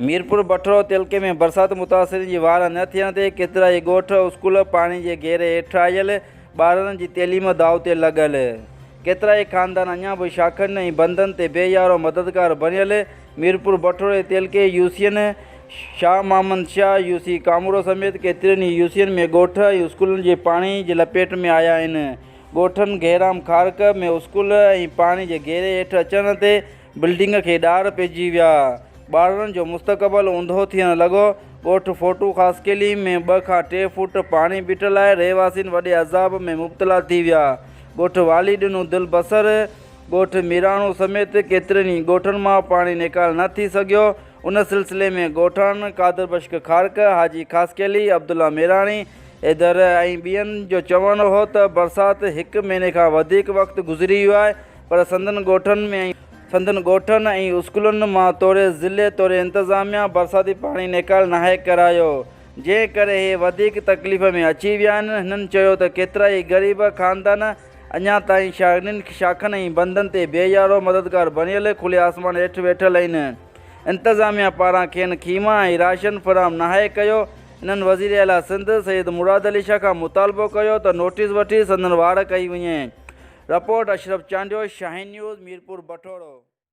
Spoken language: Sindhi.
ميرپور بٺڙو تعلقي ۾ برسات متاثرين جي واهه نه ٿيڻ تي ڪيترائي ڳوٺ اسڪول پاڻي جي گهيري هيٺ آيل، ٻارڙن جي تعليم داء تي لڳل. ڪيترائي خاندان اڃا به شاخن ۽ بندن تي بي يارو مددگار بڻيل، ميرپور بٺوڙي تعلقي يوسين شاهه محمد شاهه، يوسي ڪامورو سميت ڪيترين ئي يوسين ۾ ڳوٺ ۽ اسڪولن جي پاڻي جي لپيٽ ۾ آيا آهن. ڳوٺن گهيرام خارڪ ۾ اسڪول ۽ پاڻي جي گهيري هيٺ اچڻ تي بلڊنگ کي ڏار پئجي ويا. ٻارڙن جو مستقبل اونڌو ٿيڻ لڳو. ڳوٺ ڦوٽو خاصخيلي ۾ ٻه کان ٽي فوٽ پاڻي بيٺل آهي، رهواسين وڏي عذاب ۾ مبتلا ٿي ويا. ڳوٺ والي ڏنو دل بصر. ڳوٺ ميراڻو سميت ڪيترن ئي ڳوٺن مان پاڻي نيڪال نه ٿي سگهيو، ان سلسلي ۾ ڳوٺاڻن قادر بشڪ کارڪ، حاجي خاصخيلي، عبدالله ميراڻي، حيدر ۽ ٻين جو چوڻ هو ته برسات هڪ مهيني کان وڌيڪ وقت گذري ويو آهي پر سندن ڳوٺن ۾ سندن ڳوٺن ۽ اسڪولن مان توڙي ضلعي توڙي انتظاميا برساتي پاڻي نيڪال ناهي ڪرايو جنهن ڪري هي وڌيڪ تڪليف ۾ اچي ويا آهن، هنن چيو ته ڪيترائي غريب خاندان اڃا تائين شاگردن کي شاخن ۽ بندن تي بي يارو مددگار بڻيل کلي آسمان هيٺ ويٺل آهن، انتظاميا پاران کين خيما ۽ راشن فراهم ناهي ڪيو، انهن وزير اعليٰ سنڌ سيد مراد علي شاهه کان مطالبو ڪيو ته نوٽيس وٺي سندن واڙ ڪئي وڃي، رپورٽ اشرف چانڊيو، شاهين نيوز، ميرپور بٺورو.